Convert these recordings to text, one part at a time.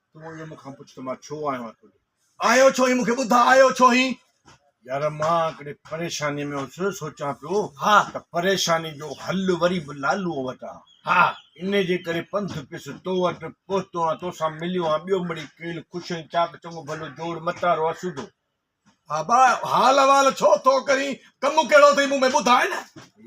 تون اهو مون کان پڇ ته مان ڇو آيو آهيان تون آيو ڇو هين مون کي ٻڌاء آيو ڇو هين يار مان هڪڙي پريشاني ۾ هوس سوچان پيو ها ته پريشاني جو حل وري به لالو وٽ آ ها ان جي ڪري پنڌ پيس تو وٽ پهتو آ تو سان مليو آ ٻيو مڙي کيل خوش ۽ چاڪ چڱو ڀلو جوڙ متارو آ سوڌو بابا حال احوال ڇو ٿو ڪرين ڪم ڪهڙو اٿئي مون ۾ ٻڌاء نه.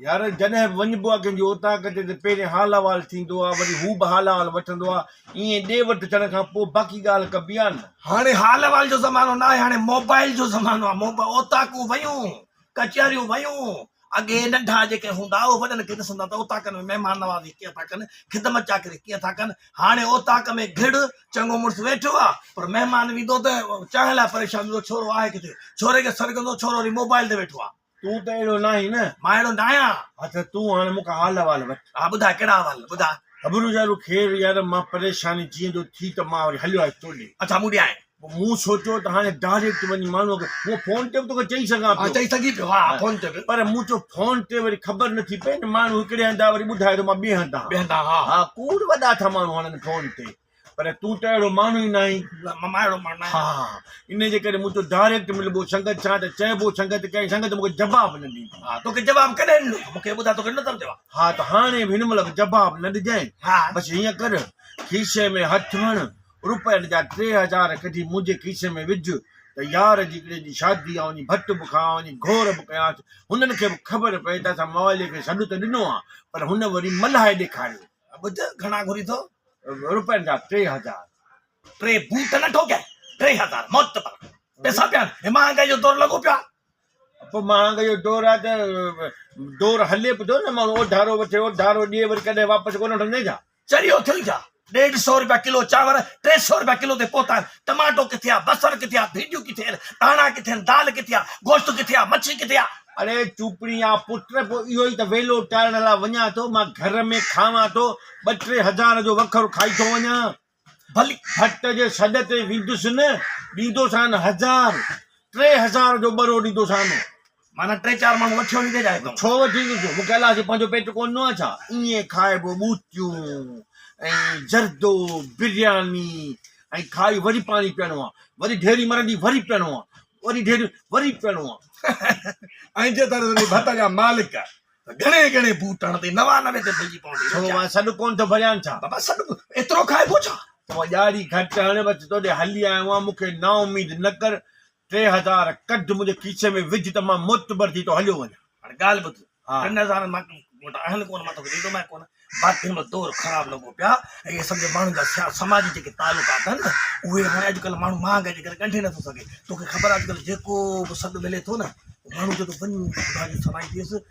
يار جڏهن وڃبو آ ڪنهن جي اوطاق تي ته پهرين حال احوال ٿيندو آ وري هو به حال احوال وٺندو آ ائين ڏي وٺ ٿيڻ کان پوء باقي ڳالهه ڪبي آ نه. هاڻي حال احوال جو زمانو ناهي هاڻي موبائل جو زمانو آ موبا اوطاقون ويون. ڪچهريون ويون، اڳي ننڍا جيڪي هوندا اهي وڏن کي ڏسندا ته اوطاقن ۾ مهمان نوازي ڪيئن ٿا ڪن، خدمت چاڪري ڪيئن ٿا ڪن، هاڻي اوطاق ۾ گهڙ، چڱو مڙس ويٺو آهي، پر مهمان ويندو ته چانهه لاء پريشان ٿيندو، ڇورو آهي ڪٿي؟ ڇوري کي سڏجندو، ڇورو وري موبائيل تي ويٺو آهي. تون ته اهڙو ناهين نه؟ مان اهڙو ناهيان. ها ته تون هاڻي مون کان حال احوال وٺ. ها ٻڌاء، ڪهڙا احوال؟ ٻڌاء. هبرو يارو، خير يار، مان پريشاني جيئندو ٿي ته مان وري هليو آيس تو ڏي. اچا مون ڏي آئين. مون سوچيو ته هاڻي ڊائريڪٽ وڃي ماڻهوء کي مون فون تي به توکي چئي سگهان ٿو. چئي سگهين ٿيو، ها فون تي به. پر مون چيو فون تي وري خبر نه ٿي پئي نه ماڻهو هڪڙي هنڌ آهي وري ٻڌائي ٿو مان ٻئي هنڌ آهان. ٻئي هنڌ آهان ها. ها کوڙ وڏا ٿا ماڻهو هڻن فون تي پر تون ته اهڙو ماڻهو ئي نه آهين. نه مان اهڙو ماڻهو نه آهيان. ها ان جي ڪري مون چيو ڊائريڪٽ ملبو سنگت سان ته چئبو سنگت ڪئين سنگت مونکي جواب نه ڏيندي. ها توکي جواب ڪڏهن ڏنو ته مونکي ٻڌاء توکي ڏنو ته جواب. ها ته هاڻي به هن مهل به جواب نه ڏجانء. ها. بس هيئن ڪر کيسي ۾ هٿ هڻ روپين جا ٽي هزار ڪڍي منهنجي کيسي ۾ وجهه ته يار جيڪڙي جي شادي آ وڃي ڀٽ به کان آ وڃي گهور به ڪيانس هنن کي به خبر پئي ته اسان موالي کي سڏ ته ڏنو آ پر هن وري ملهائي ڏيکاريو. ٻڌ گهڻا گهرين ٿو. روپين جا ٽي هزار. ٽي بوٽ نه ٺوڪيا ٽي هزار موت ته پران پيسا پيا آهن هي مهانگائي جو دور لڳو پيو آ. پوء مهانگائي جو دور آ ته دور هلي به ٿو نه ماڻهو اوڌارو وٺي اوڌارو ڏي وري ڪڏهن واپس ڪونه وٺندين ڇا. چريو ٿيو ڇا؟ ڏيڍ سئو رپيا ڪلو چانور، ٽي سئو رپيا ڪلو تي پهتا آهن، ٽماٽو ڪٿي آ، بصر ڪٿي آ، ڀينڊيون ڪٿي آهن، ڌاڻا ڪٿي آهن، دال ڪٿي آ، گوشت ڪٿي آ، مڇي ڪٿي آ؟ اڙي چوپڙي آ پٽ، پوء اهو ئي ته ويلو ٽارڻ لاء وڃان ٿو، مان گهر ۾ کاوان ٿو، ٻه ٽي هزار جو وکر کائي ٿو وڃان، ڀلي ڀٽ جي سڏ تي ويندس نه، ڏيندوسان هزار، ٽي هزار جو ٻرو ڏيندوسان. معنيٰ ٽي چار ماڻهو وٺيو وڃي ڪيڏانهن اٿئون؟ ڇو وٺي ايندسون؟ مون ڪيلاش جو پنهنجو پيٽ ڪونه ڏنو آهي ڇا؟ ائين کائبو ٻوتيون ۽ زردو، برياني ۽ کائي وري پاڻي پيئڻو آهي، وري ڍيري مرندي وري پيئڻو آهي، وري ڍيري وري پيئڻو آهي. ۽ جي ٿر ٿري ڀت جا مالڪ ته گهڻي گهڻي بوٽڻ تي نوانوي تي پئجي پوندي. ڇو مان سڏ ڪونه ٿو ڀريان ڇا؟ بابا سڏ به ايترو کائبو ڇا؟ تون ڄاري گهٽ هڻ، بس توڏي هلي آيو آهيان، مون کي نااميد نه ڪر، ٽي هزار ڪڍ منهنجي کيسي ۾ وجهه ته مان معتبر ٿي ٿو هليو وڃان. هاڻي ڳالهه ٻڌ. ٽن هزارن مان وٽ آهن ڪونه، مان توکي ڏيندومانء ڪونه. باقي هن وقت دور خراب لڳو پيو آهي ۽ اهي سمجهه ماڻهن جا سياسي سماجي جيڪي تعلقات آهن نه اهي هاڻي اڄڪلهه ماڻهو مهانگائي جي ڪري ڳنڍي نٿو سگهي. توکي خبر آهي اڄڪلهه جيڪو به سڏ ملي ٿو نه ماڻهو چوي ٿو وڃ خدا جي سوائي ٿيس.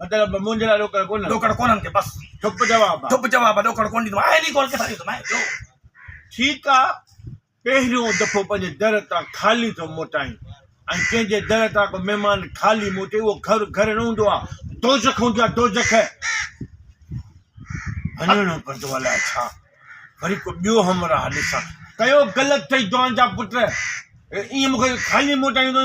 مطلب منهنجي لاء ڏوڪڙ ڪونهن ڏوڪڙ ڪونهن ڪي بس چپ جواب آ چپ جواب آ ڏوڪڙ ڪونهن ڏيندومانء اهڙي ڳالهه ڪٿان ڏيندومانء ٻيو ٺيڪ آ پهريون دفعو پنهنجي در تان خالي ٿو موٽائين ۽ ڪنهن جي در تان ڪو مهمان خالي موٽي اهو گهر گهر نه هوندو آ دوزخ هوندي آ دوزخ وڃڻو پوندو الاء ڇا وري ڪو ٻيو همراهه ڏسان ڪيو غلط ٿئي جوان جا پٽ ائين مون کي خالي موٽائيندو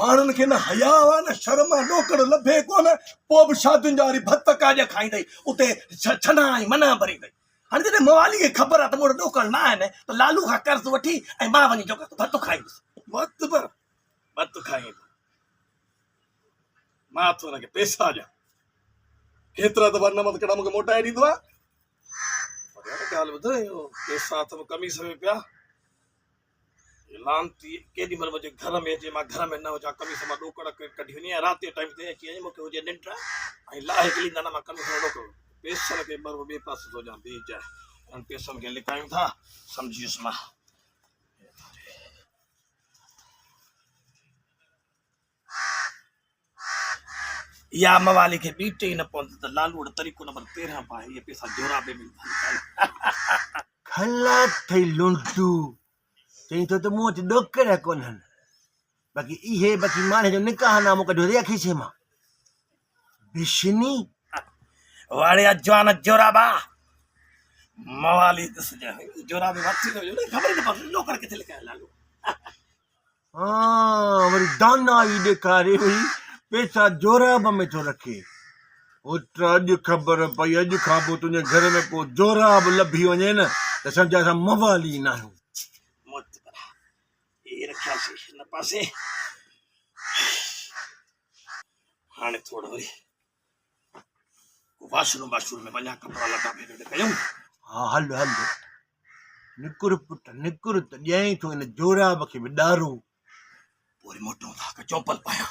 ماڻهن کي نه حياء آ نه شرم آ، ڏوڪڙ لڀي ڪونه، پوء به شادين جا وري ڀت ڪاڄ کائيندئي، اتي ڇنا ۽ منا ڀريندئي. هاڻي جڏهن موالي کي خبر آ ته مون وٽ ڏوڪڙ نه آهن ته لالو کان قرض وٺي ۽ مان وڃي جو ڪس ڀت کائيندس. ڀت به ڀت کائيندو، مان ٿو هن کي پئسا ڏيان، ڪيترا ته ورنه مت ڪڙا مون کي موٽائي ڏيندو آ. پر يار ڳالهه ٻڌ، اهو پئسا اٿم قميص ۾ پيا. لعنتي ڪيڏي مھل مونجي گھر ۾ ھجي مان گھر ۾ نه ھجان قميص مان ڏوڪڙ ڪڍي وڃي ۽ رات جي ٽائيم تي اچي وڃي مونکي ھجي ننڊ ۽ لاھي کلي نه نه مان قميص مان ڏوڪڙ پيسن کي بر ٻي پاسي ٿو ڏيان بيھجي انھن پيسن کي لڪايون ٿا سمجھيس مان يا موالي کي بيٽ ئي نه پوندي ته لالوڙ طريقو نمبر تيرهن پا هي پيسا جورابي ۾ کلا ٿئي لونڊو چئين ٿو ته مون وٽ ڏوڪڙ ڪونهن باقي اهي باقي ماڻهي جو نڪاح نامو ڪڍيو ريا کيسي مان بشني واڙيا جوان جورابا موالي دس جوابي وقت جو خبر نه پوندي ڏوڪڙ کي ٿي لکايا لالو ها وري دانائي ڏيکاري هئي پيسا جوراب ۾ ٿو رکي پٽ اڄ خبر پئي اڄ کان پوء تنهنجي گهر ۾ ڪو جوراب لڀي وڃي نه ته سمجهه اسان موالي ناهيون مت ڪر هي رکياسي هن پاسي هاڻي ٿورڙو وري واشر روم واشر روم ۾ وڃان ڪپڙا لٽا ڀيڳا ته ڪيون ها هل هل نڪر پٽ نڪر ته ڏيائين ٿو ان جوراب کي به ڏارو پوء وري موٽون ٿا ڪا چومپل پايان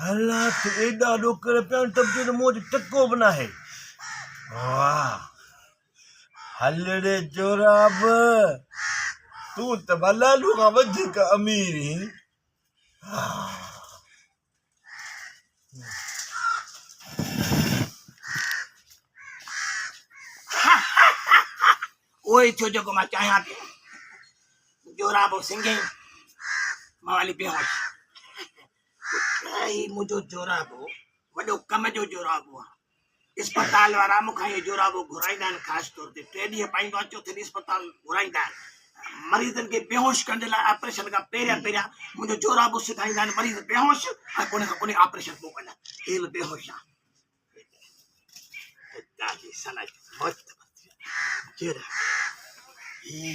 حالات ايڏا ڏوڪڙ پيا آهن ته تنهنجي منهن تي ٽڪو به ناهي واه هلڙي جوراب تون ته ڀلا لوگان وڌيڪ امير هين اهو ئي ٿيو جيڪو مان چاهيان پيو جورابو سنگهي موالي بيهوش هي منهنجو جورابو وڏو ڪم جو جورابو آهي اسپتال وارا مون کان اهو جورابو گهرائيندا آهن خاص طور تي ٽي ڏينهن پائيندو آهيان چوٿين ڏينهن اسپتال گهرائيندا آهن مريضن کي بيهوش ڪرڻ جي لاء آپريشن کان پهريان پهريان منهنجو جورابو سکائيندا آهن مريض بيهوش ۽ پوء کان پوء آپريشن پوء ڪندا هي به بيهوش آهي ڏاڍي سلائي مست جير هي